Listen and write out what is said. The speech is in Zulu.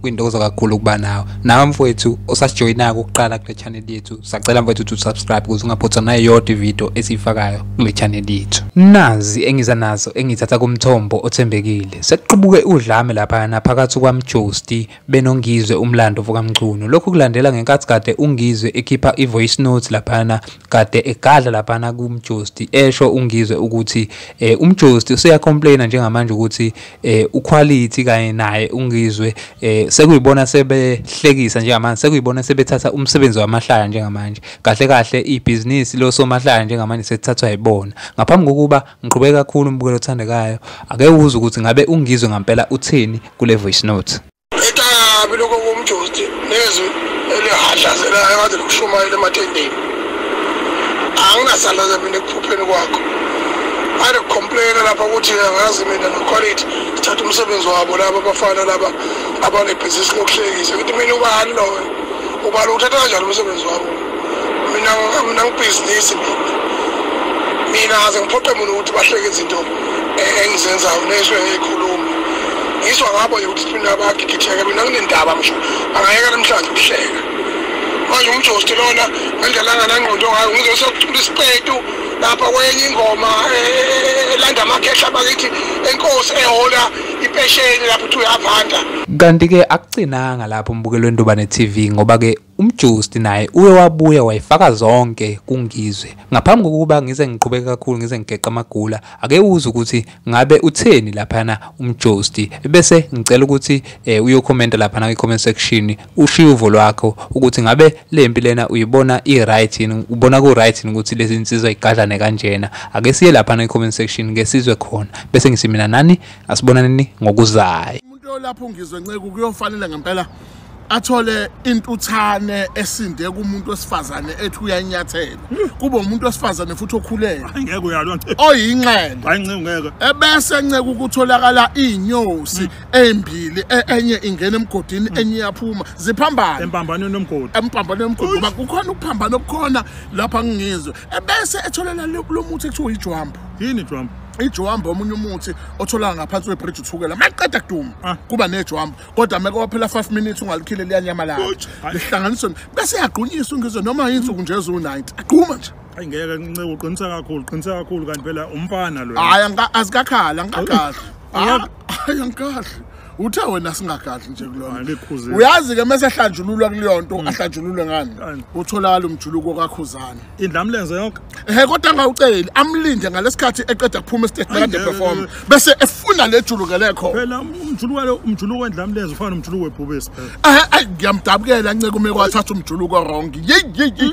kwintokozo kakhulu ukuba nawe nawe mfowethu osasijoyinako ukuqala kule channel yethu sacela mfowethu ukuthi usubscribe ukuze ungaphothwa nayeyodwa ividiyo esiyifakayo kule channel yethu nazi engiza nazo engithatha kumthombo othembekile sekuqubuke udlame laphayana phakathi kwamjosti benongizwe umlando vokamchunu lokhu kulandela ngenkathi kade ungizwe ekhipha i-voice note laphayana kade egadla laphayana kumjosti esho ungizwe ukuthi um umjosti useyacomplaina njengamanje ukuthi eh uquality kanye naye ungizwe eh sekuyibona sebehlekisa njengamanje sekuyibona sebethatha umsebenzi wamahlaya njengamanje kahle kahle ibhizinisi losomahlaya njengamanje sethathwa yibona ngaphambi kokuba ngiqhubeke kakhulu umbukelo othandekayo ake uwuze ukuthi ngabe ungizwe ngampela uthini kule voice note etabi lokho komjosti nezwi elihadlazelayo kade likushumayela ematendeni anginasalaza mina ekuphupheni kwakho ade kucomplaina lapha ukuthi angazi mina noquality sithatha umsebenzi wabo laba abafana laba abanebhizinisi lokuhlekisa ukuthi mina ubani loyo ubani uthatha kanjani umsebenzi wabo mina mina ngibhizinisi mina mina aze ngiphoqe mina ukuthi bahleke izinto eh, engizenzayo nesho eyikhuluma ngizwa ngabo nje ukuthi mina bagigitheke mina kunendaba ngisho angayeka namhlanje ukuhleka manje umjosti lona ngendlalanga nangqondo ngayo ngizosakuthola isiqetu lapha kwenye ingoma elanda amakhehla bakithi enkosi ehola impesheni lapho uthi uyavanda kanti-ke akugcinanga lapho umbukelweni ntobane TV ngoba-ke Umjusti naye uye wabuya wayifaka zonke kuNgizwe. Ngaphambi kokuba ngize ngiqhubeke kakhulu ngize ngigeqa amagula, ake uze ukuthi ngabe utheni laphana umjusti. Bese ngicela ukuthi eh, uyokhomenta laphana kwi-comment section ushiye uvo lwakho ukuthi ngabe le mpi lena uyibona i-right yini, ubona ku-right yini ukuthi lezi nsizwa igadlane kanjena. Ake siye laphana kwi-comment section ngesizwe khona. Bese ngisimina nani asibonaneni ngokuzayo. Into yolapha uNgizwe Nceku kuyofanele ngempela athole intuthane esinde kumuntu wesifazane ethi uyanyathela kube umuntu wesifazane futhi okhulele ngeke uyalwa oyinxele hayi nceke ngeke ebese nceke ukutholakala inyosi hmm. embili e, enye ingena emgodini hmm. enye iyaphuma ziphambana empambanweni nomgodi empambanweni nomgodi ngoba kukhona ukuphambana okukhona lapha ngingizwe ebese etholela lo muthi ekuthiwa ijwambu yini ijwambu ijwamba omunye umuthi otholaka ngaphansi kwebridge uthukela maqeda kuduma ah. kuba nejwamba kodwa meke waphela 5 minutes ungalikhile liyanyamalala lihlanganiswe bese yagqunyiswa ngizwe noma yinsuku nje ezu-90 agquma nje ayi ngeke nceke uqinisa kakhulu qinisa kakhulu kanti phela umfana lo hayi azikakhali angikakahle hayi angikahle uthe wena singagadli nje kulona Alikhuzile. uyazi ke mase hlanjululwa kuleyo nto ahlanjululwe ngani Ngani? utholakala umjuluko kakhuzana indla mlenze yonke ehe kodwa angawuceli amlinde ngalesikhathi eqeda kuphuma estage Ay, nakade ngeke, perform ngeke. bese efuna le juluke lekho phela umjuluko lo umjuluko endla mlenze ufana nomjuluko webhubesi phela ehe ay ngiyamdabukela nceke ume kwathatha umjuluko wrong yeyi yeyi